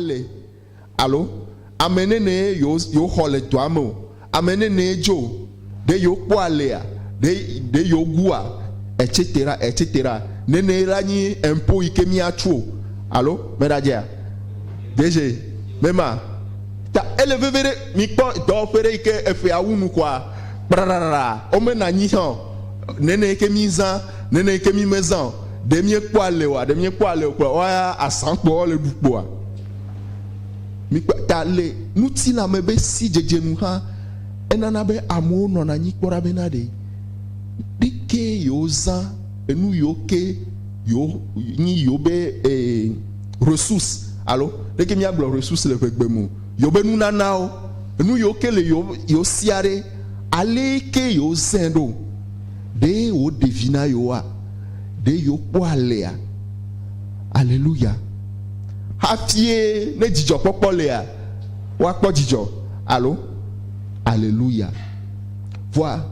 le alo ame nɛnɛ yewo yewo xɔ le dɔa me o. Ame nɛnɛ dzo o. Ɖe yewo kpɔ alea? Ɖe ɖe yewo gua? Etc etc. Nɛnɛ ye la nyi impôt yi ke mía tsu o. Alo me ɖa dzea? Deze me ma. Ta ele veve ɖe mi kpɔ dɔwɔƒe ɖe yi ke eƒea wu nu kɔa kpraɖaɖaɖa wo me na nyi hã o. Nɛnɛ yi ke mi zã, nɛnɛ yi ke mi me zã o. Ɖe míekpɔ ale oa? Ɖe míekpɔ ale o kpɔ woaya asã kpɔ woale ɖu kpɔa? Mikpɔ ta le ŋutilã me be sidzedze nu hã enana be amewo nɔna anyi kpɔ ɖa bena ɖe ɖe ke yewozã enu yewo ke yewo nyi yewo be e resous alo ɖe ke míagblɔ resous le ƒegbe me o yewo be nunanawo enu yewo ke le yewo yewo sia ɖe ale ke yewozɛ ɖo. Ɖe wòɖe vi na yewoa? Ɖe yewokpɔ alea? Aleluya! Hafie ne dzidzɔkpɔkpɔ lia, woakpɔ dzidzɔ, alo? Aleluya! Vɔa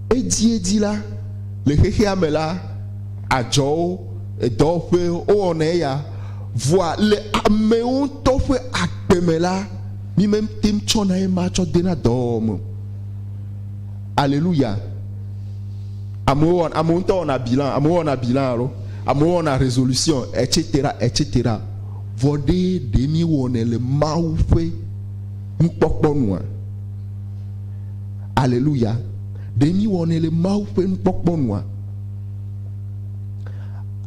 edziedzi la, le xexea me la, adzɔwo, edɔwɔƒe, wowɔna eya. Vɔa le amewo ŋutɔ ƒe agbe me la, mímete ŋu tsɔna ema tsɔ dena dɔwɔwɔ me o. Aleluya! Amewo wɔna, amewo ŋutɔ wɔna bilan, amewo wɔna bilan alo amewo wɔna résolution etc etc. Vɔ ɖe ɖe mi wɔnɛ le Mawu ƒe nukpɔkpɔ nua? Aleluya! Ɖe mi wɔnɛ le Mawu ƒe nukpɔkpɔ nua?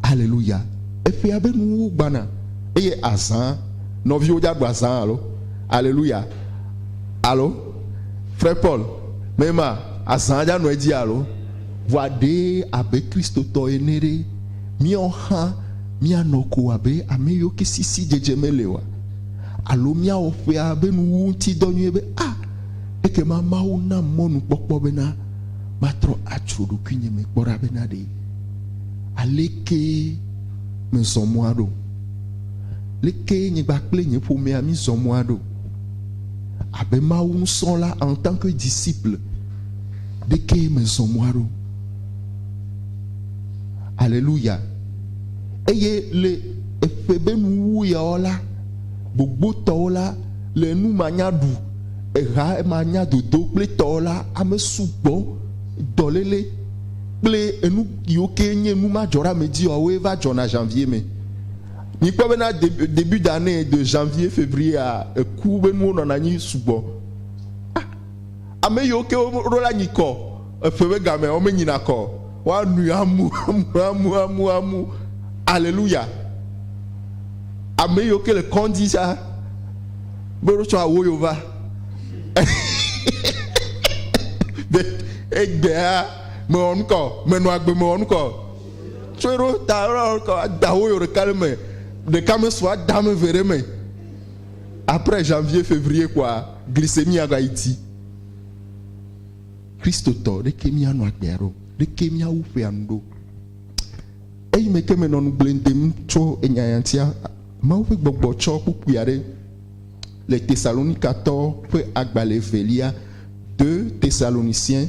Aleluya! Eƒea be nuwo gbana eye azã. Nɔviwo dze agba zã alo? Aleluya! Alo? Frère Paul, me ma azã aja nɔ edzi alo? Vɔa ɖe abe Kristotɔ ene ɖe, míɔ hã míanɔ ko abe amɛyio ke sisi dzedze mele oa? Alo míawɔ ƒea be nuwuwu ŋuti dɔ nyuie be, A! Ekema Mawu nam mɔnukpɔkpɔ bena matrɔ atsro ɖokuinye me kpɔ ɖa bena ɖe alekee mezɔ mɔa ɖo? Lekee nye kpakple nye ƒomea mízɔ mɔa ɖo? abe Mawu nusrɔ̃la en tant que disciple ɖe kee mezɔ mɔa ɖo. Aleluya! Eye le eƒe be nuwuwu yaɔ la, gbogbotɔwo la, le enu ma nya ɖu, eha ma nya dodo kple tɔɔ la, ame sugbɔ, dɔlele, kple enu yiwo kee nye nu ma dzɔɖeamedziɔawoe va dzɔna Janvier me. Mikpɔ be na début d'année de janvier février a eku be nuwo nɔna anyi sugbɔ. Ah, ame yiwo ke woɖo la nyi kɔ eƒe be gamea wo menyina kɔ o. Woanui amu amu amu amu amu. Alléluia. Ame yiwo ke le kɔndzi sa be woɖo tsɔ awo yo va. Be egbea mewɔ nukɔ, menɔ agbe mewɔ nukɔ. Tsɔe ɖo ta ɔlɔlɔka adawo yo ɖeka ɖe me ɖeka me sɔ ada me ve ɖe me après janvier fevrier kɔa glycémie ya va yi ti kristotɔ ɖeke mi anɔ agbea ɖo ɖeke mi awu ƒe anu ɖo eyi me ke me nɔ nu gblẽ dem tsɔ enya ya tia mawu ƒe gbɔgbɔ tsɔ kpukpui aɖe le tesalonika tɔ ƒe agbalẽ velia de tesaloniciens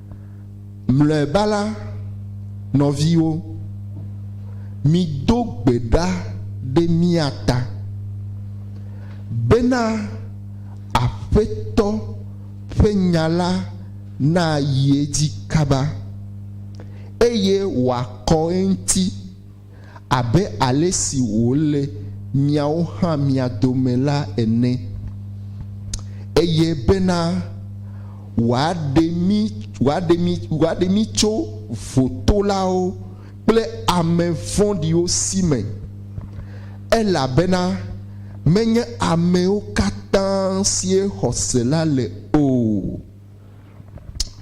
Mlɔeba la, nɔviwo, mido gbe ɖa ɖe mía ta, bena Aƒetɔ ƒe nya la nayi edzi kaba, eye wòakɔ eŋuti. abe ale si wòle miawo hã mia dome la ene, eye bena wòaɖe mí, wòaɖe mí, wòaɖe mí tso votolawo kple ame vɔ̃ɖiwo si me, elabena menye amewo katã sie xɔse la le o,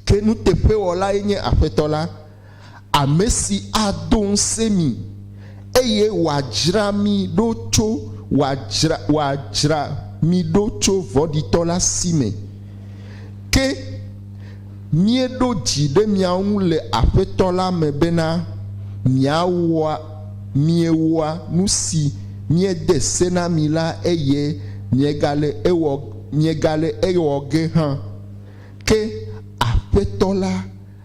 ke nuteƒewɔlae nye Aƒetɔ la. ame si ado ŋusẽ mí, eye wòadzra mí ɖo tso wòadzra wòadzra mí ɖo tso vɔ̃ɖitɔ la si me. Ke míeɖo dzi ɖe mia ŋu le Aƒetɔ la me bena miawɔa miewɔa nu si míede se na mi la eye miegale ewɔ miegale ewɔ ge hã. Ke Aƒetɔ la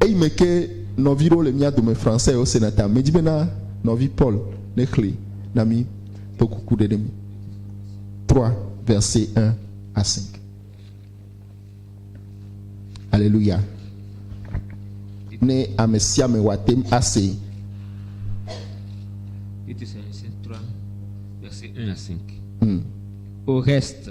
Eyi me ke nɔvi ɖewo le mía dome Français wo sena ta. Medi bena nɔvi Paul ne xli na mí kple kuku ɖeɖe me. 3 verset 1 à 5. Alléluia. Ne ame sia ame wa tem à see. Titus 3 verset 1 à 5. Au reste.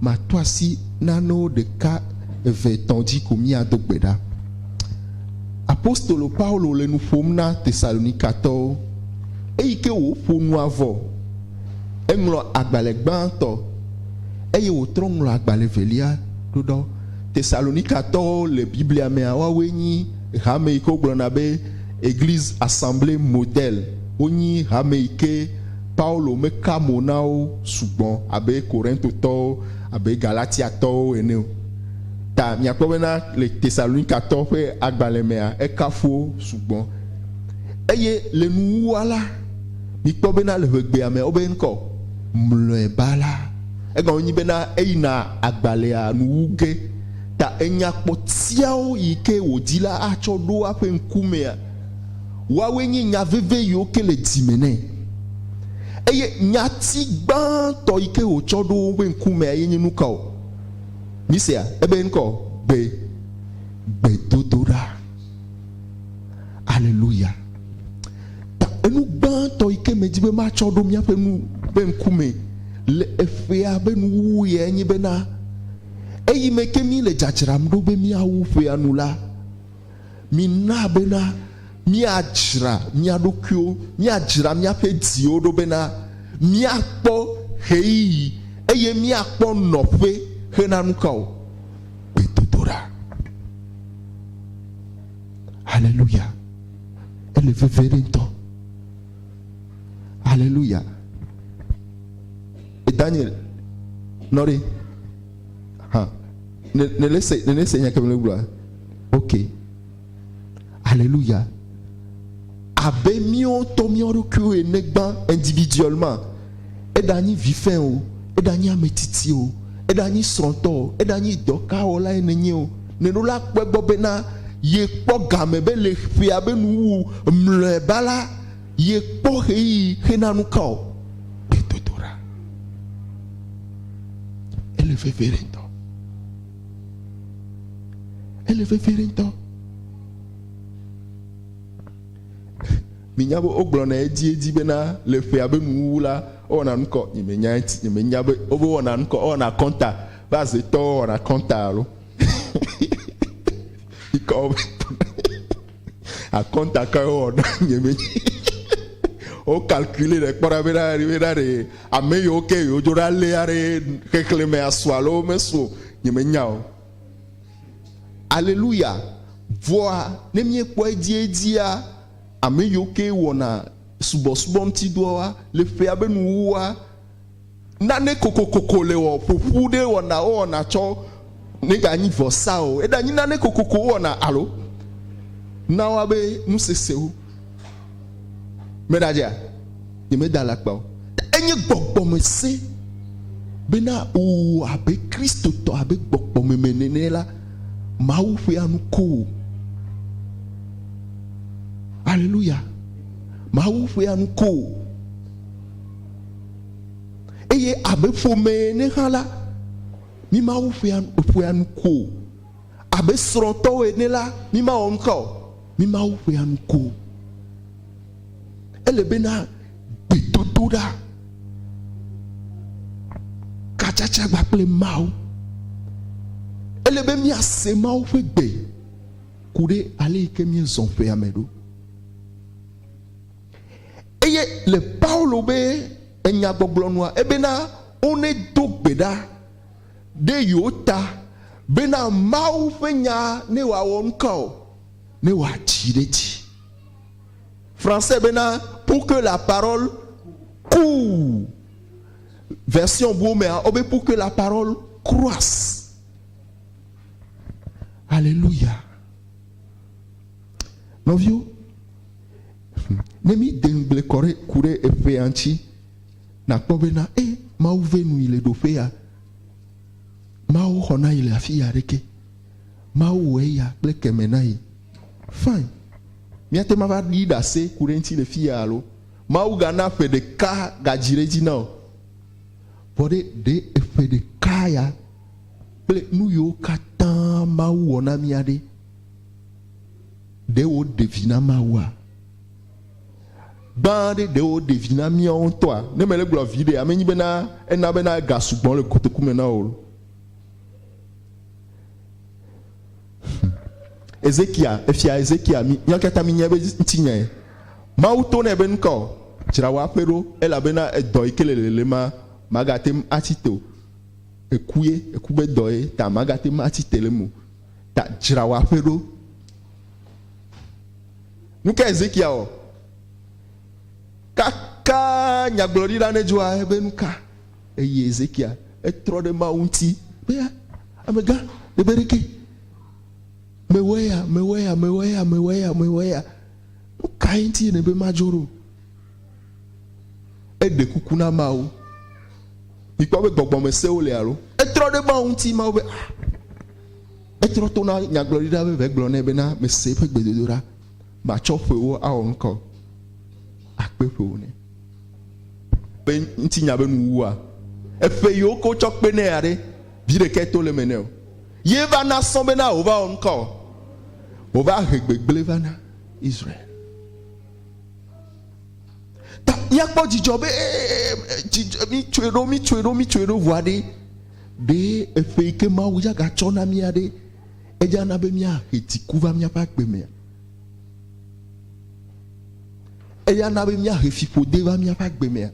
Mato asi nanewo ɖeka, eve, etɔ̃ dzi ko míado gbe ɖa. Apostolo Paulo le nu ƒom na Tesalonikatɔwo. Eyi ke wòƒo nua vɔ. Eŋlɔ agbalẽ gbãtɔ, eye wòtrɔ ŋlɔ agbalẽ evelia ɖo ɖa. Tesalonikatɔwo le Biblia mea, woawoe nyi hame yi ke wogblɔna be Eglise, assemblée, modèle. Wonyi hame yi ke Paulo meka mo na wo sugbɔ abe Korintotɔwo, abe Galatiatɔwo ene o. Ta miakpɔ bena le Tesalonikatɔwo ƒe agbalẽ mea, ekafu wo sugbɔ. Eye le nuwuwua la, mikpɔ bena le ʋegbea me wobe ŋkɔ mlɔeba la, egɔme nyi bena eyina agbalẽa nu wu ge. Ta enya kpɔtɛawo yi ke wòdi la atsɔ ɖo eƒe ŋkumea. Woawoe nye nya veve yi woke le dzi me nɛ. Eye nyati gbãtɔ yi ke wòtsɔ ɖo woƒe ŋkumea ye nye nuka o? Misea ebe ŋkɔ o, gbe, gbedodoɖa. Aleluya! Ta enu gbãtɔ yi ke medi be matsɔ ɖo míaƒe nu ƒe ŋkumee le eƒea ƒe nuwuwu ɣiae nye bena, eyime ke míle dzadzram ɖo be míawu ƒea nu la, Mina bena míadzra mía ɖokuiwo, míadzra míaƒe dziwo ɖo bena míakpɔ ɣeyiɣi eye míakpɔ nɔƒe he na nukawo? Gbedodoɖa. Haleluya! Ele veve ɖe ŋutɔ. Haleluya! Daniel, nɔ ɖe. Hã. Ne, ne, ne se, ne, ne se nya ke mele gblɔa. Ok. Aleluya. Abe míawo tɔ míawo ɖokuiwo ene gbã individuel ma. Eɖa nyi vifɛn o, eɖa nyi ame tsitsi o, eɖa nyi srɔ̃tɔ o, eɖa nyi dɔkawɔla ene nye o. Ne ɖo la kpɔe gbɔ bena ye kpɔ game be le ƒea be nu wu mlɔeba la, Yekpɔ ɣeyiɣi xe na nu ka o? Gbedodoɖa. Ele vevie ɖe ŋutɔ. Ele vevie ɖe ŋutɔ. Minya be wogblɔna edziedzi bena le ƒea be nuwuwu la, wowɔna nu kɔ. Nyemenya eti, nyemenya be wobe wɔna nu kɔ, wowɔna kɔnta be azetɔwo wɔna kɔnta alo. Mikɔ be. Akɔnta kae wowɔ na nye me? Wo calculer ɖe kpɔ ɖa be na ɖe na ɖe ame yiwo ke yewo dzo ɖa léa ɖe xexlẽme asu alo womesu o. Nye menya o. Aleluya. Vɔa ne míekpɔ edziedzia, ame yiwo ke wɔna subɔsubɔ ŋuti dɔa le ƒea be nuwuwua, nane kokokoko le wɔ ƒoƒu ɖe wɔna wowɔna tsɔ nega nyi vɔsa o eda nyi nane kokoko wowɔna alo nawa be nusesewo me ɖa dzea nye me da lakpa o enye gbɔgbɔ me se be na wowɔ abe kristotɔ abe gbɔgbɔ me me nene la mawu ƒe anu ko o aleluya mawu ƒe anu ko o Eye abe ƒome ene hã la, mí Mawu ƒea, ƒea nu ko o. Abe srɔ̃tɔwo ene la, mí Mawɔ nuka o, mí Mawu ƒea nu ko. Ele bena gbedodoɖa, katsatsa gba kple Mawu. Ele be míase Mawu ƒe gbe ku ɖe ale yi ke míezɔ ƒea me ɖo. Eye le Paulo be enyagbɔgblɔ nua, ebena, One do gbe ɖa ɖe yewo ta bena Mawu ƒe nya ne woawɔ nuka o, ne woadzi ɖe edzi. Français bena, pour que la parole court. Version buwo mea, wobe pour que la parole croisse. Aleluya. Nɔviwo. Ne mi de ŋgble kɔ ɖe ku ɖe eƒea ŋuti, nakpɔ be na e Mawu ve nu yi le ɖoƒe ya. Mawu xɔ na yi le afi ya ɖeke. Mawu wɔ eya kple keme na yi. Fine. Mia te ma va ɖi ɖase ku ɖe ŋuti le fi ya alo? Mawu ga na ƒe ɖeka ga dzi ɖe edzi na o. Vɔ ɖe ɖe eƒe ɖeka ya kple nu yiwo katã Mawu wɔ na mia ɖe? ɖe woɖe vi na Mawua? Gbã ɖe ɖe woɖe vi na míawo ŋutɔa? Ne mele gblɔ viɖe, ame nyi bena ena bena ega sugbɔ le kotoku me na wò. Ezekia, efia Ezekia, míawo katã mínya be ŋutinyae. Mawu to nɛ be nu ka o? Dzra wò aƒe ɖo, elabena edɔ yi ke le lele ma, màgate ŋu atsi te o. Èkue, èku be dɔ ye ta, màgate ŋu atsi te le eme o. ta dzra wò aƒe ɖo. Nu ka Ezekiel wɔ? Kaka nyagblɔɖi la nedzɔa ebe nu ka eye Ezekiel etrɔ ɖe Mawu ŋuti be amegã ɖe be ɖeke mewɔe ya mewɔe ya mewɔe ya mewɔe ya mewɔe ya nu kae ŋuti nèbe madzro ɖo? Eɖe kuku na Mawu. Mikpɔ be gbɔgbɔme sewo li alo? Etrɔ ɖe Mawu ŋuti, Mawu be, ah, etrɔ to na nyagblɔɖila be vegblɔ nɛ be na mese eƒe gbedodoɖa, matsɔ ƒewo awɔ nukɔ, akpe ƒewo nɛ. Be ŋuti nya be nu wua. Eƒe yiwo ke wotsɔ kpe nɛ aɖe, vi ɖekɛ to le me nɛ o. Ye va na sɔ be na wova wɔ nukɔ. Wova he gbegble va na Israel. Ta míakpɔ dzidzɔ be dzidzɔ mitsɔe ɖo mitsɔe ɖo mitsɔe ɖo ʋua ɖe ɖe eƒe yi ke Mawu ya gatsɔ na mía ɖe eya na be míahe dziku va míaƒe agbe mea. Eya na be míahe fiƒode va míaƒe agbe mea.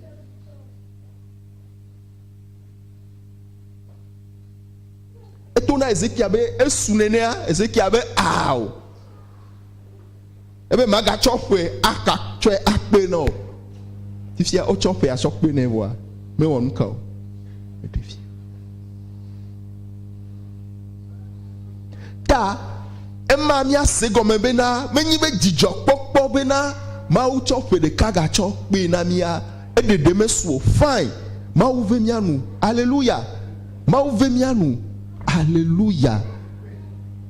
Eto na Ezekia be esu nenea Ezekia be ao. ebe magatsɔ ƒe aka tsɔe akpee na wò. Fifia wotsɔ ƒe asɔ kpee nɛ vɔa, mewɔ nu ka o. Meɖe fia. Ta ema míase gɔme bena menye be dzidzɔkpɔkpɔ bena Mawu tsɔ ƒe ɖeka gatsɔ kpee na mía eɖeɖe mesu o. Fine, Mawu ve mía nu. Aleluya! Mawu ve mía nu. Aleluya!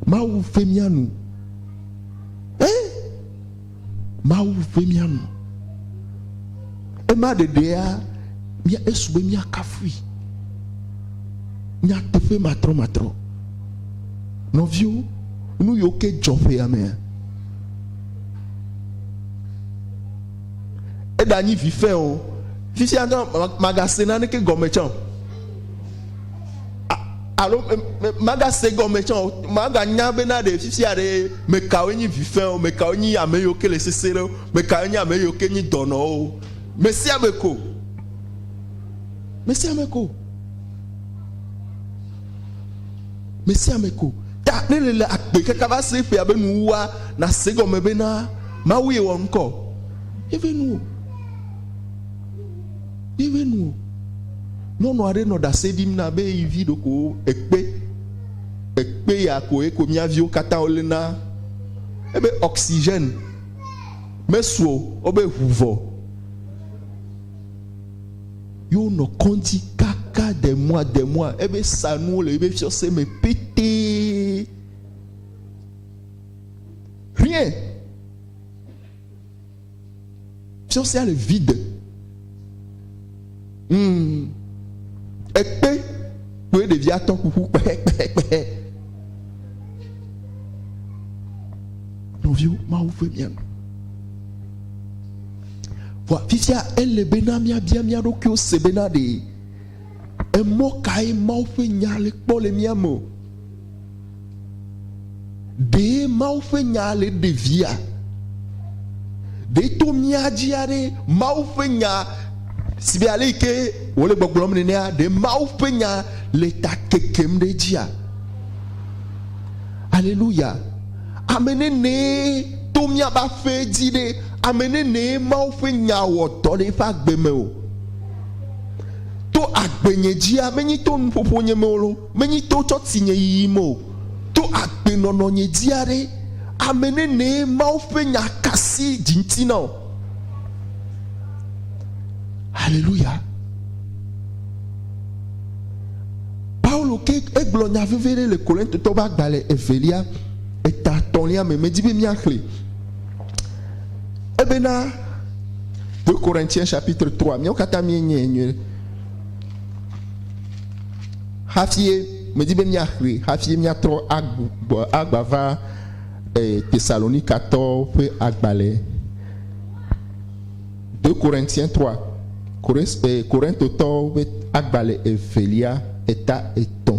Mawu ve mía nu. E Mawu ƒe mía nu. Ema ɖeɖea mía esu be mía kafui. Nyateƒe matrɔ matrɔ. Nɔviwo, nu yiwo ke dzɔ ƒe ya mea, eɖa nyi vi fɛ̃ o. Fifia ŋutɔ magase naneke gɔme tsã o. alo magase gɔme tsã o maganya be na ɖe fifia ɖe mekawo nyi vifɛ o mekawo nyi ame yiwo ke le sese ɖe o mekawo nyi ame yiwo ke nyi dɔnɔwo o mesia me ko mesia me ko mesia me ko ta ne le le agbe kaka va se ƒea be nuwua nase gɔme be na mawu yewɔ ŋkɔ yebe nu o. Míeʋẽ nu o. Nyɔnu aɖe nɔ ɖase ɖim na be yi vi ɖeko ekpe, ekpe ya ko eko mía viwo katã woléna. Ebe oxygène mesu o, wobe ŋu vɔ. Ye wonɔ kɔŋdzi kaka de mois de mois. Ebe sa nuwo le yebe fiɔse me pete. Rien! Tsɔ sia le vi de. Mm. Ekpe kpoe ɖevia tɔ ƒuƒu kpehekpehekpehe. Nɔviwo, Mawu ve mia nu. Vɔ afisia ele be na miabia mia ɖokuiwo se be na ɖe emɔ kae Mawu ƒe nya le kpɔ le mia me o. Ɖee Mawu ƒe nyaa le ɖevia? Ɖee to mía dzi aɖe Mawu ƒe nya si be ale yi ke wòle gbɔgblɔm nenea, ɖe Mawu ƒe nya le ta kekem ɖe edzia? Aleluya! Ame nenee to míaƒe aƒe dzi ɖe, ame nenee Mawu ƒe nya wɔ dɔ le eƒe agbe me o. To agbenye dzia, menye to nuƒoƒo nye me o loo. Menyi to tsɔ ti nye yiyim o, to agbe nɔnɔ nye dzia ɖe ame nenee Mawu ƒe nya ka si dzi ŋti na o. Haleluya! Paulo ke egblɔ nya veve ɖe le Korintotɔ ƒe agbalẽ evelia eta tɔ̃lia me, medi be míaxlẽ. Ebena, 2 Corinthiens chapitre 3, míawo katã míenyae nyuie. hafie medi be míaxli hafie míatrɔ agbɔ agba va e, Tesalonikatɔwo ƒe agbalẽ de Korintien 3 Korintotɔwo ƒe agbalẽ evelia eta etɔ̃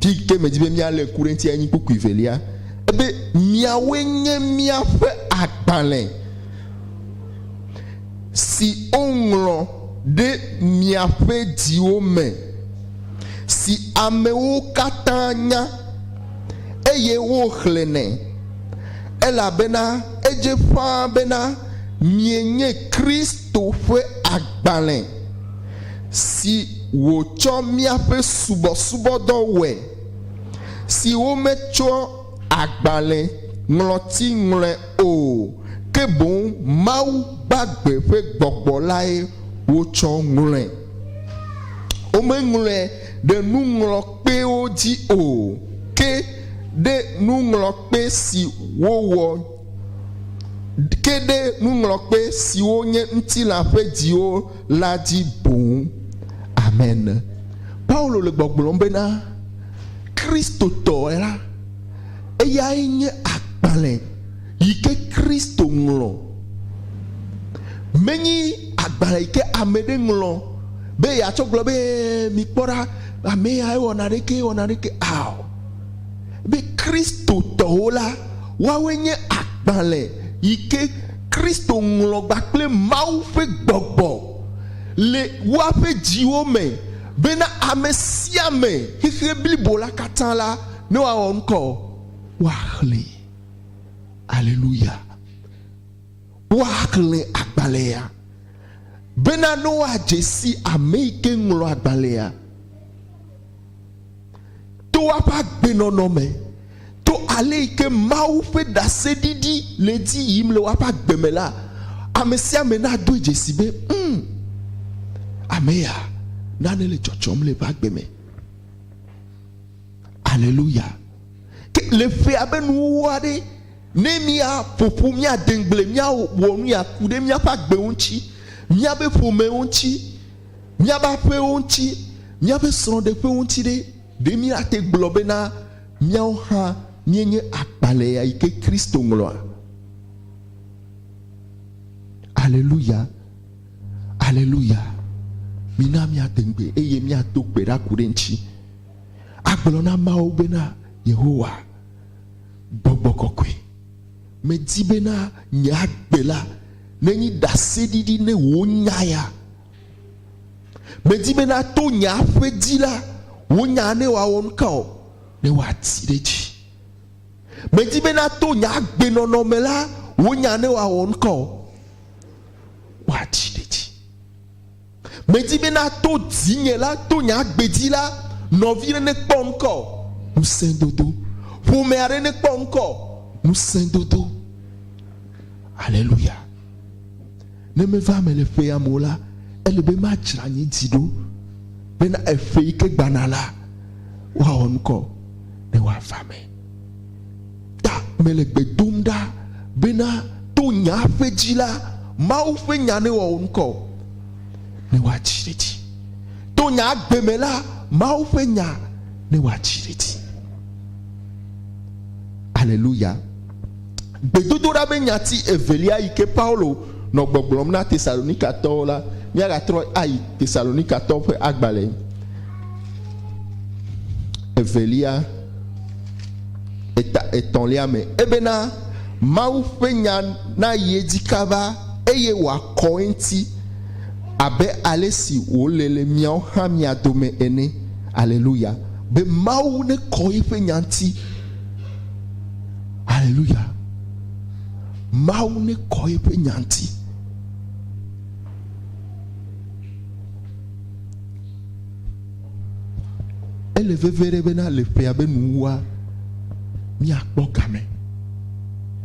Fi ke medi be míalé ŋku ɖe eŋuti anyi kpukpui velia, ebe miawoe nye míaƒe agbalẽ si woŋlɔ ɖe miaƒe dziwo me, si amewo katã nya, eye woxlẽnɛ, elabena edze ƒãa bena mienye Kristo ƒe agbalẽ. si wòtsɔ míaƒe subɔsubɔdɔ wɔe, si wometsɔ agbalẽ ŋlɔti ŋlɔe o, ke boŋ Mawu gbagbe ƒe gbɔgbɔ lae wotsɔ ŋlɔe. Womeŋlɔe ɖe nuŋlɔkpewo dzi o, ke ɖe nuŋlɔkpe si wowɔ, ke ɖe nuŋlɔkpe siwo nye ŋutilã ƒe dziwo la dzi boŋ. Amen. Paulo le gbɔgblɔm bena, Kristotɔe la, eyae nye agbalẽ yi ke Kristo ŋlɔ. Menye agbalẽ yi ke ame ɖe ŋlɔ be yeatsɔ gblɔ be, Mikpɔ ɖa, ame ya ewɔ naneke, ewɔ naneke ao. Be Kristotɔwo la, woawoe nye agbalẽ yi ke Kristo ŋlɔgba kple Mawu ƒe gbɔgbɔ le woaƒe dziwo me bena ame sia ame, xexea blibo la katã la, ne woawɔ ŋkɔ, woaxlẽ. Aleluya! Woaxlẽ agbalẽa bena ne woadze si ame yi ke ŋlɔ agbalẽa. to eƒe agbenɔnɔ me, to ale yi ke Mawu ƒe ɖaseɖiɖi le edzi yim le woaƒe agbe me la, ame sia ame nadoe dzesi be, Um, ame ya, nane le dzɔdzɔm le eƒe agbe me. Aleluya! Ke le ƒe abe nuwuwu aɖe, ne míaƒo ƒu, míade ŋugble, míawɔ nu ya ku ɖe míaƒe agbewo ŋuti, míaƒe ƒomewo ŋuti, Míaƒe aƒewo ŋuti, míaƒe srɔ̃ɖeƒewo ŋuti ɖe, ɖe míate gblɔ bena míawo hã míenye agbalẽa yi ke Kristo ŋlɔa? Aleluya! Aleluya! Mina míade ŋugbe eye míado gbe ɖa ku ɖe eŋuti. Agblɔ na Mawu bena, Yehowa, Gbɔgbɔ Kɔkɔe, Medi be na nye agbe la nenyi ɖaseɖiɖi ne wò nya ya. Medi be na to nye aƒe dzi la, wò nya ne wòawɔ nuka o, ne wòati ɖe edzi. Medi be na to nye agbe nɔnɔ me la, wò nya ne wòawɔ nuka o, wòati ɖe edzi. Medi be nato dzinye la to nye agbe dzi la, nɔvi aɖe nekpɔ ŋkɔ ŋusẽdodo, ƒome aɖe nekpɔ ŋkɔ ŋusẽdodo. Aleluya! Ne meva eme le ƒea me o la, ele be madzra nye dzi ɖo bena eƒe yi ke gbana la, woawɔ ŋkɔ ne woava eme. Ta mele gbe dom ɖa bena to nya ƒe dzi la, Mawu ƒe nya newɔ wò ŋkɔ ne woadzi ɖe edzi. To nya agbe me la, Mawu ƒe nya ne woadzi ɖe edzi. Aleluya! Gbedodoɖa be nyati evelia yi ke Paulo nɔ gbɔgblɔm na Tesalonikatɔwo la, míagatrɔ ayi Tesalonikatɔwo ƒe agbalẽ evelia. eta etɔ̃lia me. Ebena, Mawu ƒe nya nayi edzi kaba eye wòakɔ eŋuti abe ale si wòle le miawo hã mia dome ene. Aleluya! Be Mawu nekɔ eƒe nya ŋuti. Aleluya! Mawu nekɔ eƒe nya ŋuti. Ele vevie ɖe bena le ƒea be nuwua míakpɔ game.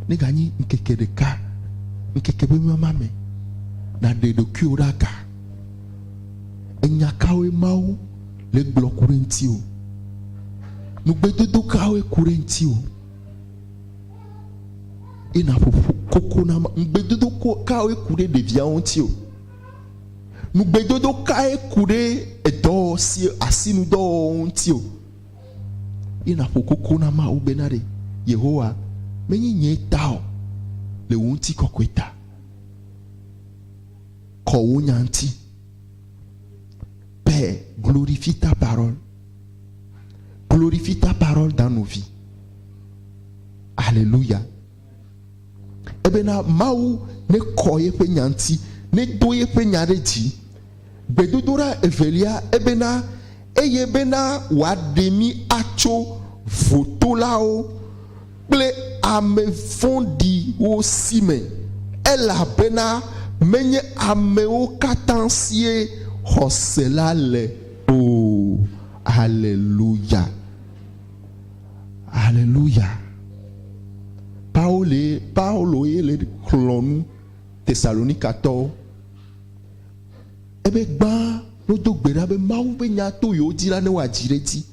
Neganyi ŋkeke ɖeka, ŋkeke be mama me, nàɖe ɖokuiwò ɖe aga. Enya kawoe Mawu le gblɔ ku ɖe ŋutiwò? Nugbedodo kawoe ku ɖe ŋutiwò? Eye nàƒoƒu koko na Mawu. Nugbedodo kawoe ku ɖe ɖeviawo ŋutiwò? Nugbedodo kae ku ɖe edɔ si asinudɔwɔwɔ ŋuti o? Ye nàƒo koko na Mawu bena ɖe Yehowa menye nye ta o le wò ŋutikɔkɔe ta. Kɔ wò nya ŋuti. Pè glorifie ta parole. Glorifie ta parole dans nos vies. Alléluia. Ebena Mawu nekɔ yeƒe nya ŋuti, nedo yeƒe nya ɖe dzi. Gbedodoɖa evelia, ebena, eye bena wòaɖe mí atso votolawo kple ame vɔ̃ɖiwo si me, elabena menye amewo katã sie xɔse la le o. Haleluya! Haleluya! Paolo ye, Paolo ye le xlɔ̃ nu Tesalonikatɔwo. Ebe gbã wodo gbe ɖa be Mawu ƒe nya to yewo dzi la ne woadzi ɖe edzi.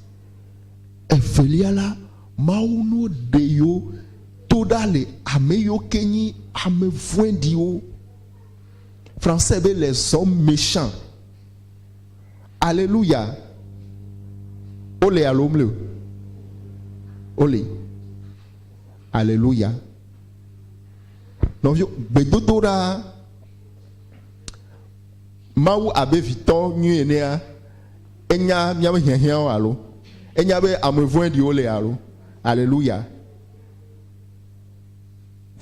Evelia la, Mawu no ɖe yewo to ɖa le ame yiwo ke nyi ame vɔ̃ɖiwo. Français be les hommes méchants. Aleluya! Wole alo womli o? Woli. Aleluya! Nɔviwo, gbedodoɖa Mawu abe vitɔ nyui enea, enya míaƒe hiahiãwo alo? Enya be ame vɔ̃ɖiwo le alo? Aleluya!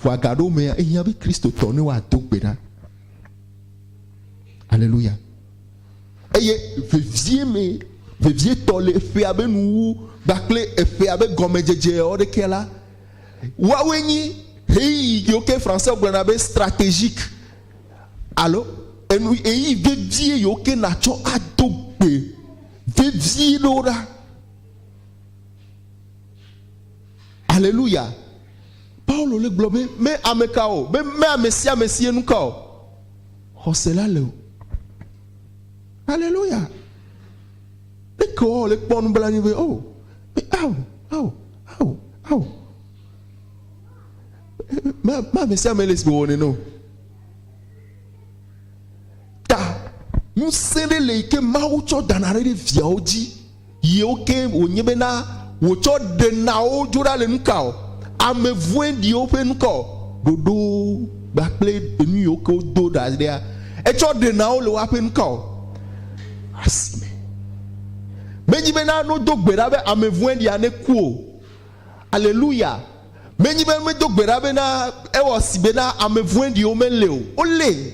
Vɔa gaɖewo mea, ehiã be Kristotɔ ne woado gbe ɖa. Aleluya! Eye vevie me, vevietɔ le eƒea be nuwuwu kpakple eƒea be gɔmedzedze ɖekea la, woawoe nyi ɣeyiɣi yiwo ke Français gblɔna be stratégique alo enu ɣeyiɣi vevie yiwo ke natsɔ ado gbe vevie ɖewo ɖa. Aleluya! Paulo le gblɔ be me ameka o, be me amesiamesi ye nuka o. Xɔse la le o. Haleluya! Ne ke wɔ le kpɔ nublanui be o, be ao, ao, ao, ao. Ma, ma me sia me le si wɔ nene o. Ta ŋusẽ ɖe le yi ke Mawu tsɔ dana ɖe ɖe viawo dzi. Yewo ke wònye be na wòtsɔ ɖe nawo dzo ɖa le nuka o? Ame vɔ̃eɖiwo ƒe nuka o? Ɖoɖo gba kple enu yiwo ke wodo ɖa ɖea etsɔ ɖe nawo le woaƒe nuka o? Asime menye be na nodo gbe ɖa be ame vɔ̃eɖia neku o. Aleluya! Menye be medo gbe ɖa be na ewɔ si be na ame vɔ̃eɖiwo meli o. Wolé.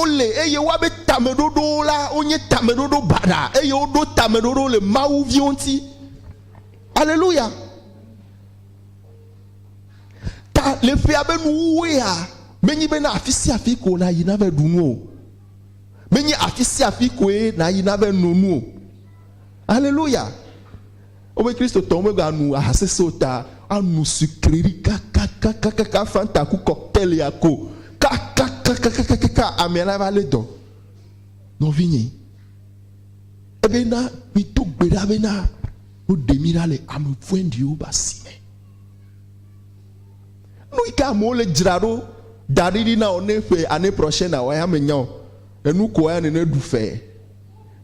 Wole, eye woabe tameɖoɖowo la, wonye tameɖoɖo baɖa, eye woɖo tameɖoɖo le Mawu viwo ŋuti. Aleluya! Ta le ƒea be nuwuwuea, menye be na afi sia afi ko nàyi na ve ɖu nu o. Menye afi sia afi koe nàyi na ve no nu o. Aleluya! Wobe Kristotɔwo meganu aha sesẽ o ta anu sucrerie kakakakakaka, Fanta ku cocktail ya ko kakakakakakaka amea la va lé dɔ. Nɔvinye, ebe na mido gbe ɖa be na woɖe mi ɖa le ame vɔ̃ɖiwo be asi me. Nu yi ke amewo le dzra ɖo da ɖi ɖi na wò ne ƒe année prochaine wɔ ya menya o. Enu ko ya nene ɖu fee.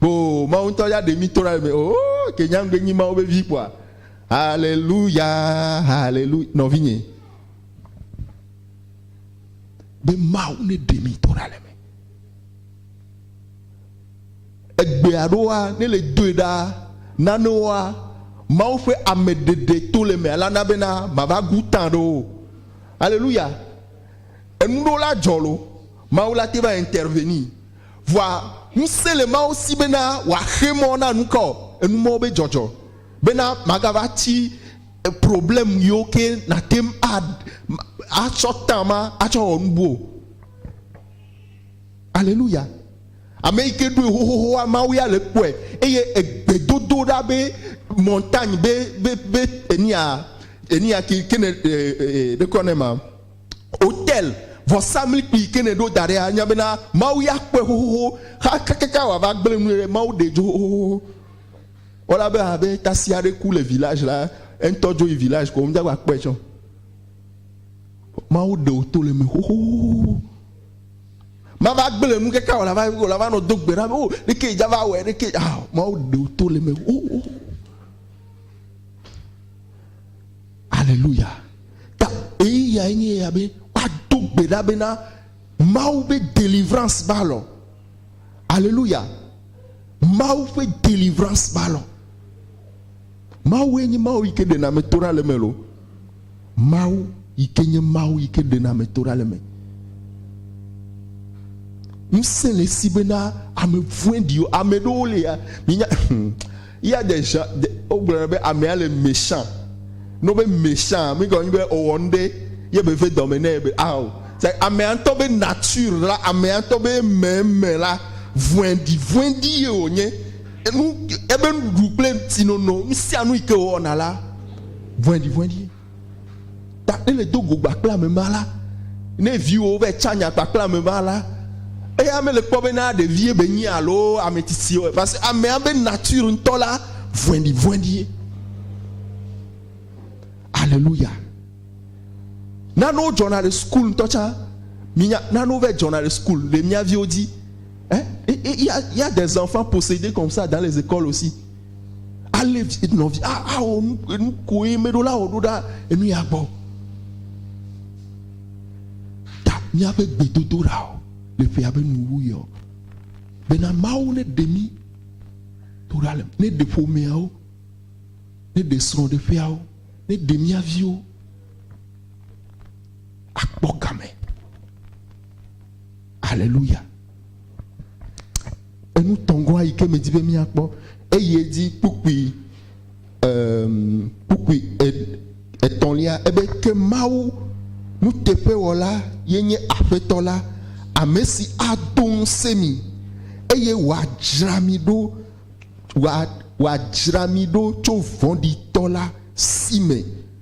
Oo, Mawu ŋutɔ ya ɖe mí tora eme. Oo, ke nyagbe nyi Mawu be vi kpɔa. Haleluya, haleluya, nɔvinye. Be Mawu ne ɖe mí tora le me. Egbe aɖoa, ne le doe ɖa, nanewoa, Mawu ƒe ame ɖeɖe to le me ala na bena mava gu tã ɖo. Haleluya. Enuɖola dzɔ lo, Mawu la te va intervenir. Vɔa ŋusẽ le Mawu si bena wòaxe mɔ na nuka ɔ? Enu mɔ be dzɔdzɔ bena magava tsi problème yiwo ke natem a atsɔ temps ma atsɔ wɔ nubu o. Aleluya! Ameyike ɖoe xoxoxoa, Mawu ya le ekpɔɛ eye egbe dodo ɖa be montagne be be be enia enia ke ke ne ɖe ɖekɔ ne ma. Otel, vɔsamlikpui yi ke nèɖo da ɖea, anya bena Mawu ya kpɔe xoxoxo xa kakaka wòava gblẽ nu ɖe. Mawu ɖee dzo xoxoxo. Wala be abe tasi aɖe ku le village la, eŋutɔ dzo yi village ko womedza gba kpɔe tsɛ o. Mawu ɖe wò to le eme xoxoxo. Mava gblẽ nu kaka wòla va wòla va nɔ do gbe ɖa be o ɖekee dza va wɔe ɖekee ah Mawu ɖe wò to le eme xoxoxo. Aleluya! Ta eyae nye eya be woado gbe ɖa bena Mawu ƒe delivrance va lɔ. Aleluya! Mawu ƒe delivrance va lɔ. Mawue nye Mawu yi ke ɖena ame to ɖa le eme lo. Mawu yi ke nye Mawu yi ke ɖena ame to ɖa le eme. Ŋusẽ le esi bena ame vɔ̃ɖiwo, ame ɖewo lia, minya, Yea de ʒan, de, wogblɔnɛ be amea le méchant. Ne wobe méchant, mi gɔme nye be ewɔ nuɖe ye be ve dɔme nɛ be ao. Sa amea ŋutɔ be nature la, amea ŋutɔ be meme la, vɔɛɖi, vɔɛɖi ye wònye. Enu, ebe nuɖuɖu kple ŋutinono, nusianu yi ke wòwɔna la, vɔɛɖi, vɔɛɖi ye. Ta ne le do go kpakple ame ma la, ne viwo va tsa nya kpakple ame ma la, eya mele kpɔ be na ɖevie be nyi alo ame tsitsi o. Parce que amea be nature ŋutɔ la vɔɛɖivɔɛɖie. Alléluia. Nanewo dzɔna le school ŋutɔ tsã. Minya nanewo va dzɔna le school le mia viwo dzi. Hein? Il y a des enfants possédés comme ça dans les écoles aussi. alé vi nɔvi awɔ nuko ye meɖo la wɔ ɖo ɖa enu ya gbɔ ta míaƒe gbedodoɖa o le ƒea be nuwu yɔ bena mawu ne ɖe mí to ɖa le ne ɖe ƒomeawo ne ɖe srɔ̃ɖeƒeawo ne ɖe mía viwo akpɔ game aleluya Enu tɔ̃gɔa yi ke medi be míakpɔ eyi edzi kpukpui em kpukpui e etɔ̃lia ebe ke Mawu nuteƒewɔla ye nye Aƒetɔ la, ame si ado ŋusẽ mi eye wòadzra mi ɖo wòa wòadzra mi ɖo tso vɔ̃ɖitɔ la si me.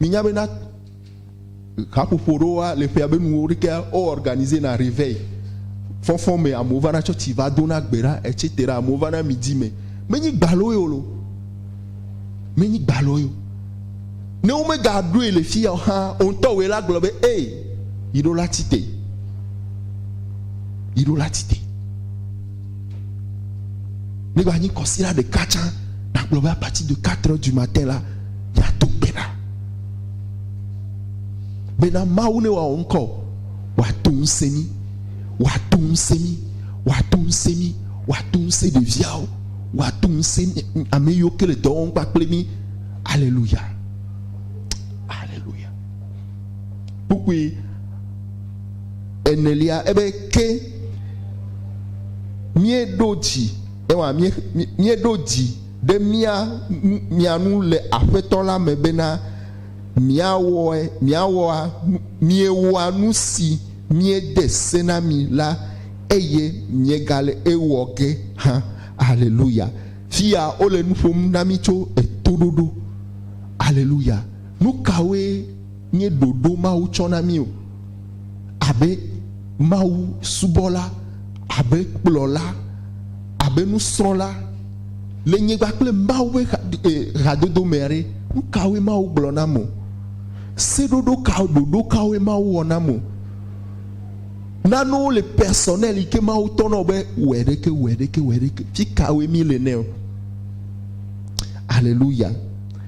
Minya bena haƒoƒo ɖewoa le ƒea be nuwo ɖekea wo organiser na reveil fɔfɔ me amewo vana tsɔtsi va dona gbe ɖa etc. Amewo vana midi me. Menyi gbaloe o lo. Menyi gbaloe o. Ne wo me ga ɖoe le fiya o hã wo ŋutɔ woe la gblɔ be ee yi ɖo la tite. Yi ɖo la tite. Ne va nyi kɔsira ɖeka tsã, nàgblɔ be apati de quatre heures du matin la, yeado gbe ɖa. Bena Mawu ne wòawɔ ŋkɔ, wòato ŋusẽ mí, wòato ŋusẽ mí, wòato ŋusẽ mí, wòato ŋusẽ ɖeviawo, wòato ŋusẽ ame yiwo ke le dɔ wɔm kpakple mí. Aleluya. Aleluya. Kpukpui. Enelia, ebe ke míeɖo dzi, ewa mí, míeɖo dzi ɖe mía, mia ŋu le Aƒetɔ la me bena míawɔe, míawɔa, miewɔa nu si míede se na mi la, eye miegale ewɔ ge hã. Aleluya! Fiya wole nu ƒom na mí tso etoɖoɖo. Aleluya! Nukawoe. nye ɖoɖo Mawu tsɔ na mí o. Abe Mawu subɔla, abe kplɔla, abe nusrɔ̃la le nyigba kple Mawu ƒe hadodo mea ɖe, nu kawoe Mawu gblɔ nam o? Seɖoɖo ka, ɖoɖo kawoe Mawu wɔ nam o? Nanewo le personnel yi ke Mawu tɔ na wò be wɔe ɖe ke, wɔe ɖe ke, wɔe ɖe ke. Fikawoe mí le nɛ o? Aleluya!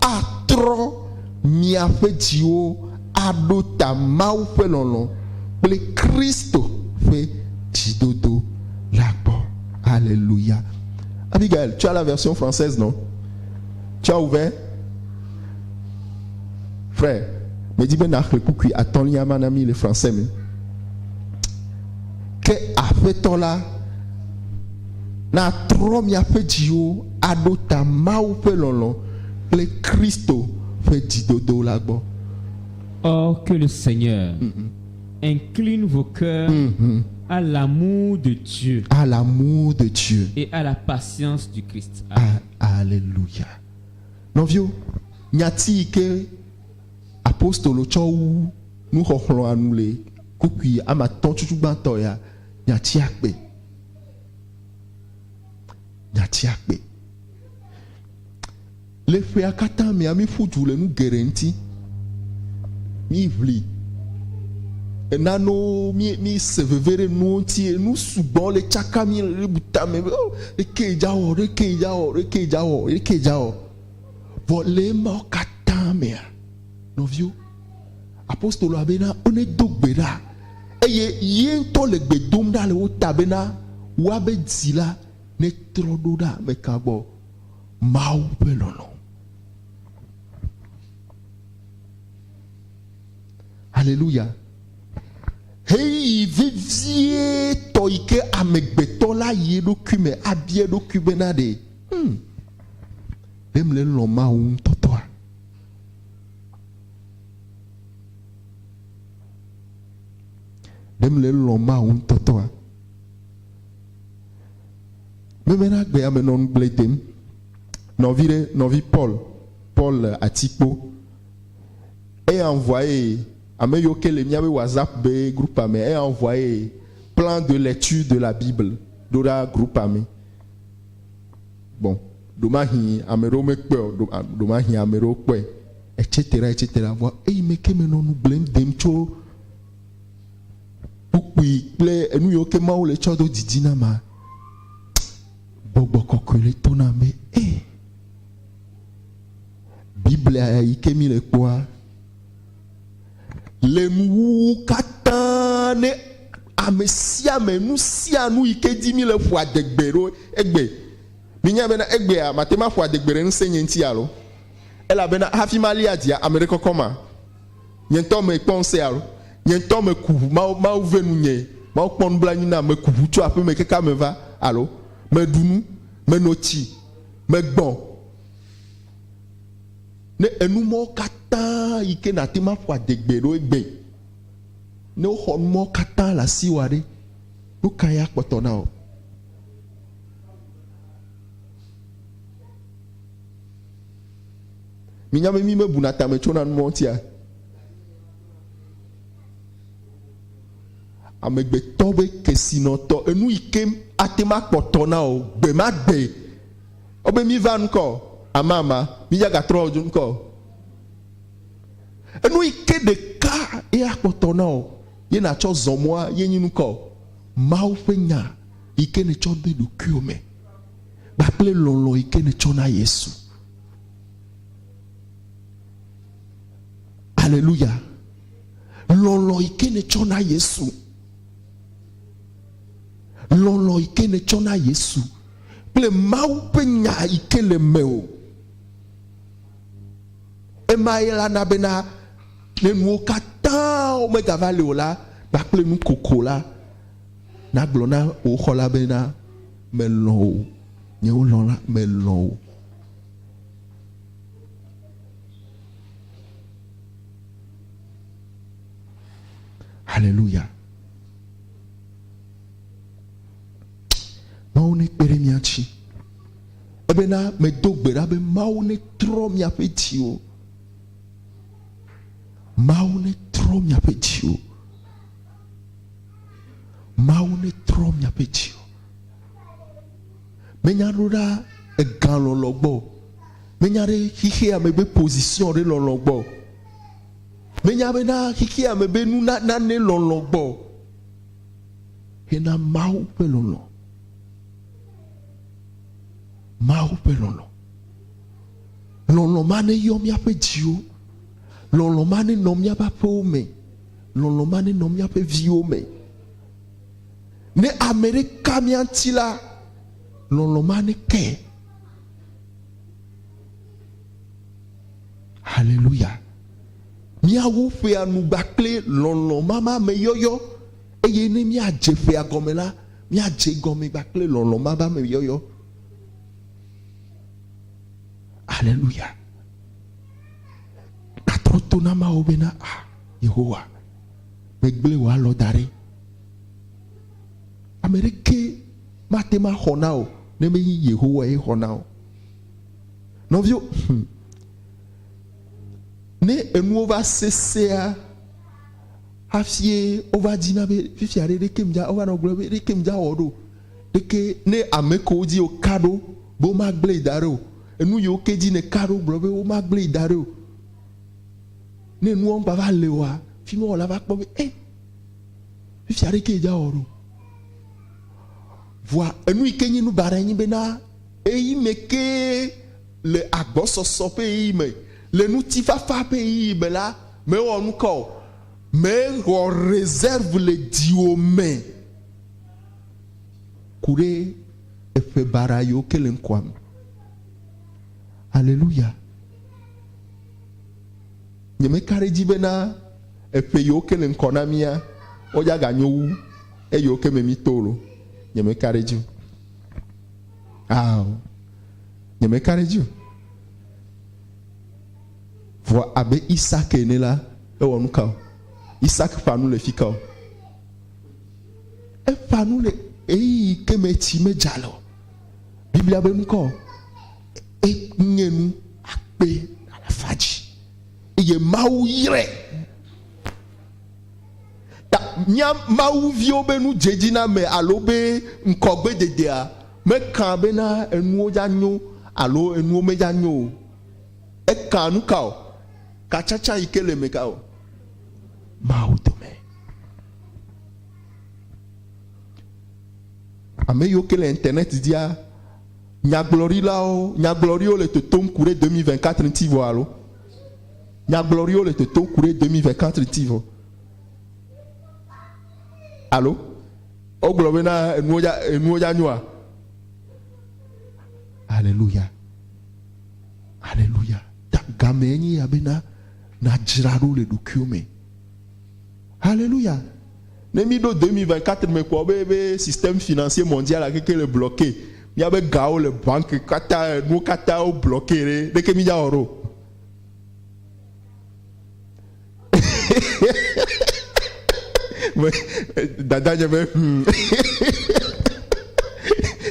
atrɔ miaƒe dziwo aɖo ta Mawu ƒe lɔlɔ̃ kple Kristo ƒe dzidodo la gbɔ. Aleluya! Abigail, tu as la version française, non? Tu as ouvert? Frère, medi be nàxlẽ kpukpui atɔ̃lia ma na mí le français me. Ke Aƒetɔ la. Na atrɔ miaƒe dziwo aɖo ta Mawu ƒe lɔlɔ̃ kple Kristo ƒe dzidodo la gbɔ. Oh, que le Seigneur incline vos coeurs à l'amour de Dieu À l'amour de Dieu. et à la patience du Christ. A- Amen. Aleluya. Nɔviwo, nyati yi ke apostolo tsɔ wu nuxɔxlɔ̃a nu le kpukpui ame atɔ̃ tsutsugbãtɔ ya, nyatia kpe. Nyatia kpe. Le ƒea katã mea, míƒu du le nu geɖe ŋuti. Míʋli enanewo, míese veve ɖe nuwo ŋuti. Nu sugbɔ le tsaka mí le bu tame be, oh, ɖeke dzawɔ, ɖeke dzawɔ, ɖeke dzawɔ, ɖeke dzawɔ. Vɔ le emawo katã mea, nɔviwo, Apostoloa bena wonedo gbe ɖa, eye ye ŋutɔ le gbe dom ɖa le wo ta bena woabe dzi la netrɔ ɖo ɖa ameka gbɔ, Mawu ƒe lɔlɔ̃. Haleluya! Ɣeyiɣi vevietɔ yi ke amegbetɔ la yi eɖokui me abia eɖokui bena ɖe, Hmm, ɖe mlelɔ̃ Mawu ŋutɔtɔa? Ɖe mele lɔ̃m Mawu ŋutɔtɔa? Memena gbe ame nɔ nugblẽ dem. Nɔvi ɖe, nɔvi Paul, Paul le atikpo. Eya ŋvɔa ye ame yiwo ke le míabe WhatsApp be grupea me, eya ŋvɔa ye plan de lecture de la Bible ɖo ɖa grupea me. gbɔ. Ɖomahi ame ɖewo mekpɔe o, ɖomahi ame ɖewo kpɔe etc etc. Vɔa eyi me ke menɔ nu gblẽm dem tso kpukpui kple enu yiwo ke Mawu le tsɔ do didi na ma. Gbɔgbɔ kɔkɔe le to na be e Biblia yi ke mi le kpɔa Le nuwuwu katã ne ame sia ame, nu sia nu yi ke di mi le ƒo adegbe ɖo egbe. Minya bena egbea mate ŋu aƒo adegbe ɖe ŋusẽnye ŋuti alo? Elabena hafi mali adzia, ame ɖe kɔkɔ ma? Nye ŋutɔ mekpɔ ŋusẽ alo? Nye ŋutɔ meku ʋu, Mawu, Mawu ve nunye, Mawu kpɔ nublanui nam, meku ʋu tso aƒeme keke ame va alo? Meɖu nu, meno tsi, megbɔ̃. Ne enu mawo katã yi ke nàte ŋu aƒo adegbe ɖo egbe, ne woxɔ nu mawo katã le asiwò aɖe, nu kae akpɔtɔ na wò? Minya be mí mebuna tame tsona nu mawo ŋutia? Amegbetɔ be kesinɔtɔ, enu yi ke ate ŋu akpɔtɔ na wò gbe ma gbe. Ewɔ be mí va ŋkɔ amama, mí dza ga trɔ dzo ŋkɔ o. Enu yi ke ɖeka ye a kpɔtɔ na wò ye na tsɔ zɔ mɔa ye nyi ŋkɔ Mawu ƒe nya yi ke ne tsɔ de ɖokuiwò me kpakple lɔlɔ yi ke ne tsɔ na Yesu. Aleluya. Lɔlɔ yi ke ne tsɔ na Yesu. lɔlɔ̃ yi ke nètsɔ na Yesu kple Mawu ƒe Nya yi ke le mewò. Emae la na bena ne nuwo katã megava li o la, kpakple nukoko la, nàgblɔ na wò xɔla bena, Melɔ̃ wò, nyewo lɔ̃la, melɔ̃ wò. Haleluya! Mawu nekpe ɖe mía ŋuti. Ebena medo gbe ɖa be Mawu netrɔ miaƒe dziwo. Mawu netrɔ miaƒe dziwo. Mawu netrɔ miaƒe dziwo. Menya ɖo ɖa egalɔlɔ gbɔ o. Menya ɖe xexeame be position ɖe lɔlɔ gbɔ o. Menya be na xexea me be nu na nane lɔlɔ̃ gbɔ hena Mawu ƒe lɔlɔ̃. Mawu ƒe lɔlɔ̃. Lɔlɔ̃ ma ne yɔ míaƒe dziwo. Lɔlɔ̃ ma ne nɔ míaƒe aƒewo me. Lɔlɔ̃ ma ne nɔ míaƒe viwo me. Ne ame ɖe ka mía ŋuti la, lɔlɔ̃ ma ne ke. Haleluya! Míawo ƒea nu gbã kple lɔlɔ̃ mama me yɔyɔ, eye ne míadze ƒea gɔme la, míadze gɔme gbã kple lɔlɔ̃ mama me yɔyɔ. Haleluya! Gatrɔ to na Mawu bena, a ah, Yehowa, megblẽ wò alɔ da ɖe. Ame ɖeke mate ma xɔ na o ne menye Yehowa ye xɔ na o. Nɔvio, hm, ne enuwo va sesea, hafie wova dzina be fifi aɖe ɖeke mdza, wova nɔ gblɔ be ɖeke mdza wɔ ɖo. Ɖeke ne ame kewo dzi wò ka ɖo be woma gblẽ yi da ɖe o, enu yiwo ke dzi ne ka ɖo gblɔ be woma gblẽ yi da ɖe o, ne enuwo mgba va le oa, fimewɔla va kpɔ be ɛ, fifi aɖe ke dza wɔ ɖo. Vɔa enu yi ke nye nu baɖa nye be na Ɣeyiɣi me kee le agbɔsɔsɔ ƒe ɣeyiɣi me, le ŋutifafa ƒe ɣeyiɣi me la, mèwɔ nuka o, mèxɔ reserve le dziwò me ku ɖe eƒe baɖa yiwo ke le ŋkɔa me. Aleluya! Nyemeka ɖe edzi bena eƒe yiwo ke le ŋkɔ na mía, woaganyo wu eyiwo ke me míto o loo. Nyemeka ɖe edzi o. Ao, nyemeka ɖe edzi o. Vɔ abe Isak ene la, ewɔ nu ka o? Isak ƒã nu le fi ka o? Eƒã nu le ɣeyiɣi ke me tsi medza le o. Biblia be nu ka o? Enye nu akpe alafa dzi eye Mawu yrae. Ta mía Mawu viwo be nu dzedzi na ame alo be ŋkɔgbededea mekã bena enuwo dza nyo alo enuwo medza nyo o. Ekã nuka o? Ka tsatsa yi ke le eme ka o? Mawu dome. Ame yiwo ke le internet dzia, nyagblɔɖilawo, nyagblɔɖiwo le totom ku ɖe 2024 ŋuti vɔ alo? Nyagblɔɖiwo le toto ku ɖe demi vɛ katri ti vɔ. Alo wogblɔ be na enuwo dza enuwo dza nyoa. Aleluya. Aleluya. Ta gamɛ enye ya be na nadzra ɖo le ɖokuiwo me. Haleluya! Ne mi ɖo 2024 me kpɔ be be système financier mondial keke le bloquer, mia be gawo le banque kata enuwo kata wo bloquer ɖe, leke mi dza wɔ ɖo? Dada nye be hum.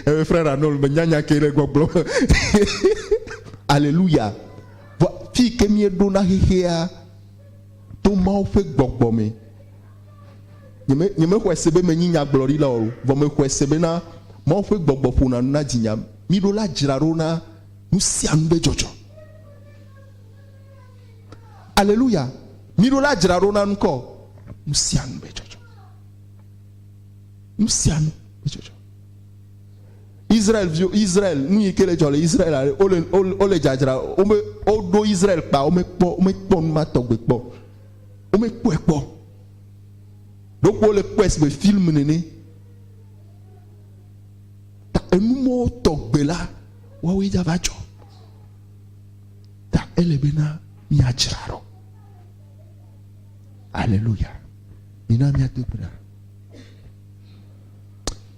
Ebe frère Arnold me nya nya ke le gbɔgblɔ. Aleluya! Vɔ fi ke mi ɖo na xexea. to Mawu ƒe gbɔgbɔ me. Nyeme, nyemexɔe se be menyi nyagblɔɖila o, vɔ mexɔe se bena Mawu ƒe gbɔgbɔ ƒona nu na dzinya. Miɖo la dzra ɖo na nu sia nu be dzɔdzɔ. Aleluya! Miɖo la dzra ɖo na nu kɔ nu sia nu be dzɔdzɔ. Nu sia nu be dzɔdzɔ. Israel viwo, Israel, nu yi ke le dzɔ le Israel ale wole wole dzadzra wome woɖo Israel kpa womekpɔ womekpɔ nu ma tɔgbe kpɔ. Womekpɔe kpɔ. Ɖokpo wole kpɔe si be film nene. Ta enu mɔwo tɔgbe la woawoe dza va dzɔ. Ta ele be na miadzra ɖo. Aleluya. Mina miado gbe ɖa.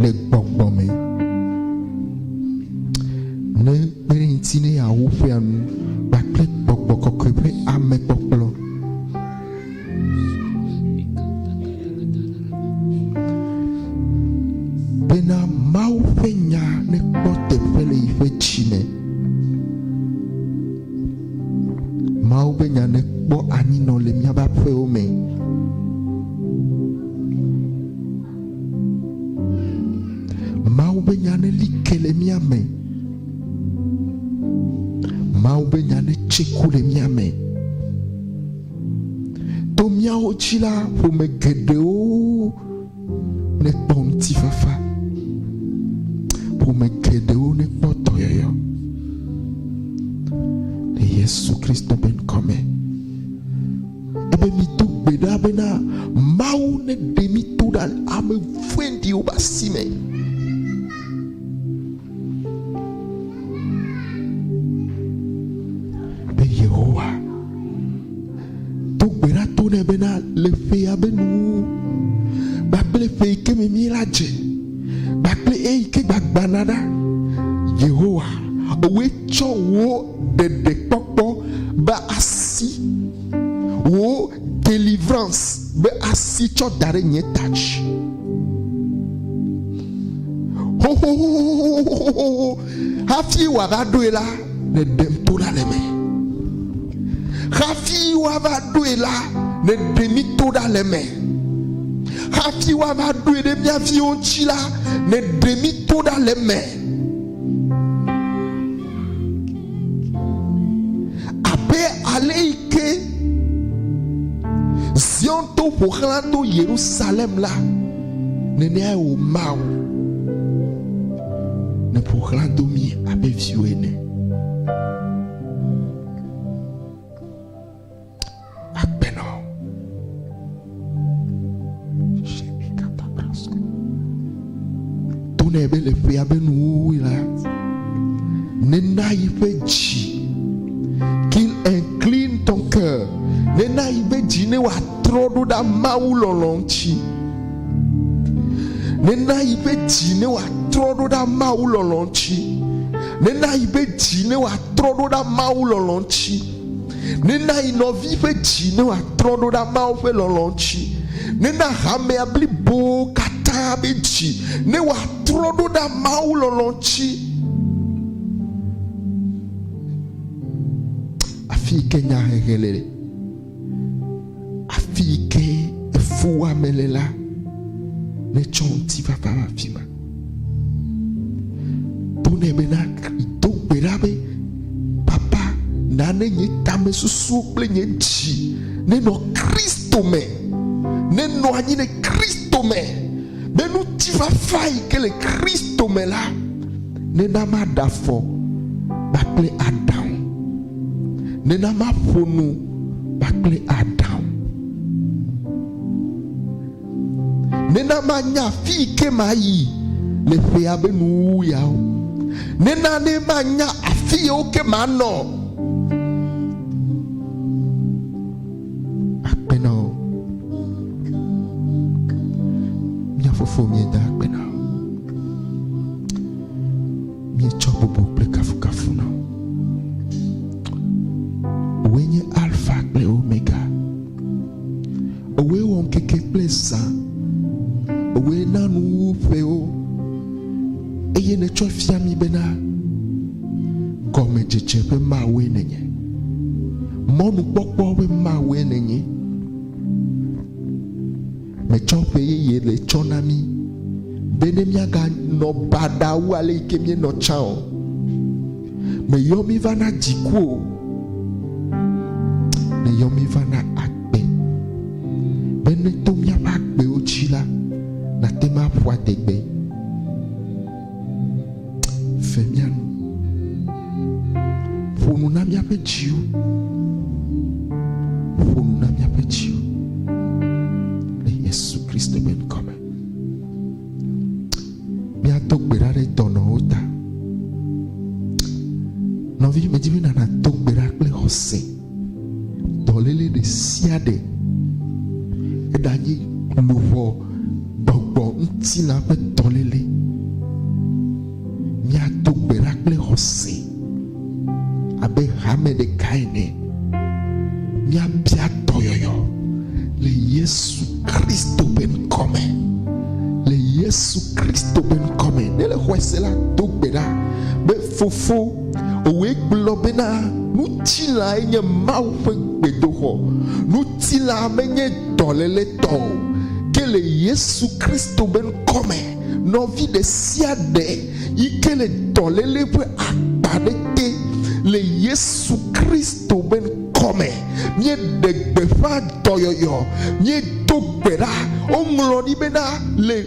le gbɔgbɔ me. Ne kpe ɖe ŋuti ne yeawo ƒea nu kpakple gbɔgbɔ kɔkɔe ƒe amekpɔkplɔ. Bena Mawu ƒe nya nekpɔ teƒe le yi ƒe dzi me. Mawu ƒe nya nekpɔ anyinɔ le míaƒe aƒewo me. Mawu be nya ne li ke le mía me. Mawu be nya ne tse ku le mía me. To míawo dzi la, ƒome geɖewo ne kpɔ ŋutifafa. Ƒome geɖewo ne kpɔ dɔyɔyɔ. Le Yesu Kristo be ŋkɔ me. Ele be mìdo gbe ɖa bena, Mawu neɖe mí to ɖa le ame vɔ̃ɖiwo ƒe asi me. Be Yehowa do gbe ɖa to nɛ bena, Le ƒea be nuwuwu kpakple ƒe yi ke me mí la dze kpakple eyi ke gbagbãna ɖa, Yehowa, wòe tsɔ wò ɖeɖekpɔkpɔ be asi, wò delivrans be asi tsɔ da ɖe nye ta dzi. Xoxoxoxoxoxoxoxoxo hafi wòava ɖoe la, nèɖem to ɖa le eme. Hafi woava ɖoe la, nèɖe mí to ɖa le eme. Hafi woava ɖoe ɖe mía viwo ŋuti la, nèɖe mí to ɖa le eme. Abe aleke Zion to ƒo xlã to Yerusalem la, neneae wò Mawu neƒo xlã do mí abe viwò ene. akpe nɔ tone be le ƒea be nuwo la nena yi ƒe dzi qu'il incline ton cœur nena yi ƒe dzi ne wòatrɔ ɖo ɖa mawu lɔlɔ ŋuti nena yi ƒe dzi ne wòatrɔ ɖo ɖa mawu lɔlɔ ŋuti nena yi ƒe dzi ne wòatrɔ ɖo ɖa mawu lɔlɔ ŋuti Nena yi nɔvi ƒe dzi ne wòatrɔ ɖo ɖa Mawu ƒe lɔlɔ̃ ŋuti. Nena hamea blibo katã ƒe dzi ne wòatrɔ ɖo ɖa Mawu lɔlɔ̃ ŋuti. Afii ke nyahehe le. Afi yi ke efuwɔame le la, netsɔ ŋutifafa va afi ma. Gblɔ nɛ be na do gbe ɖa be, Papa, na ne nye tamesusuwo kple nye dzi nenɔ Kristo me, nenɔ anyi ɖe Kristo me, be ŋutifafa yi ke le Kristo me la nena maɖe afɔ kpakple aɖaŋu. Nena maƒo nu kpakple Adam. Nena manya afi yi ke mayi le ƒea be nuwuwuyawo. Nena ne manya afi yewo ke manɔ. Akpe na wò. Mía fofo míeda akpe na wò. Míetsɔ bubu kple kafukafu na wò. Wòe nye Alfa kple Omega. Wòe wɔ ŋkeke kple zã. Wòe na nuwuwuƒewo eye nètsɔe fia mí bena gɔmedzedze ƒe Mawue nènye. Mɔnukpɔkpɔ ƒe Mawue nènye. Metsɔ ƒe yeye le tsɔ na mí be ne míaganɔ baɖa wu ale yi ke míenɔ tsã o. Meyɔ mí va na dziku o. Meyɔ mí va na agbe be ne to míaƒe agbewo dzi la, nàte ŋu aƒu adegbe. Fe mía nu. Ƒo nu na míaƒe dziwo. Ƒo nu na míaƒe dziwo. Le Yesu Kristo ƒe ŋkɔ me. Míado gbe ɖa ɖe dɔnɔwo ta. Nɔvi, medi be nàna do gbe ɖa kple xɔse. dɔléle ɖe sia ɖe. Eɖanye luʋɔ, gbɔgbɔ ŋutilã ƒe dɔléle, míado gbe ɖa kple xɔse abe hame ɖeka ene. Míabia dɔyɔyɔ le Yesu Kristo ƒe ŋkɔ me. Le Yesu Kristo ƒe ŋkɔ me. Ne èle xɔe se la, do gbe ɖa be, Fofo, Wòe gblɔ bena, Ŋutilãe nye Mawu ƒe gbedoxɔ. Ŋutilã menye dɔléle tɔ o, ke le Yesu Kristo ƒe ŋkɔ me, nɔvi ɖe sia ɖe yi ke le dɔléle ƒe akpa aɖe te, le Yesu Kristo ƒe ŋkɔ me, míeɖe gbeƒã dɔyɔyɔ, míedo gbe ɖa. Woŋlɔ ɖi bena, le.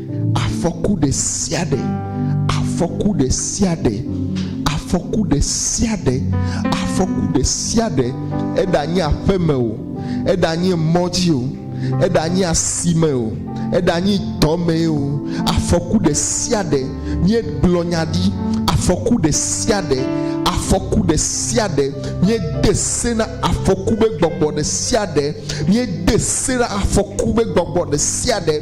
Afɔku ɖe sia ɖe, afɔku ɖe sia ɖe, afɔku ɖe sia ɖe, afɔku ɖe sia ɖe, eɖanye aƒeme o, eɖanye mɔ dzi o, eɖanye asime o, eɖanye dɔmee o, afɔku ɖe sia ɖe, míegblɔ nya ɖi, afɔku ɖe sia ɖe, afɔku ɖe sia ɖe, míede se na afɔku be gbɔgbɔ ɖe sia ɖe, míede se na afɔku be gbɔgbɔ ɖe sia ɖe,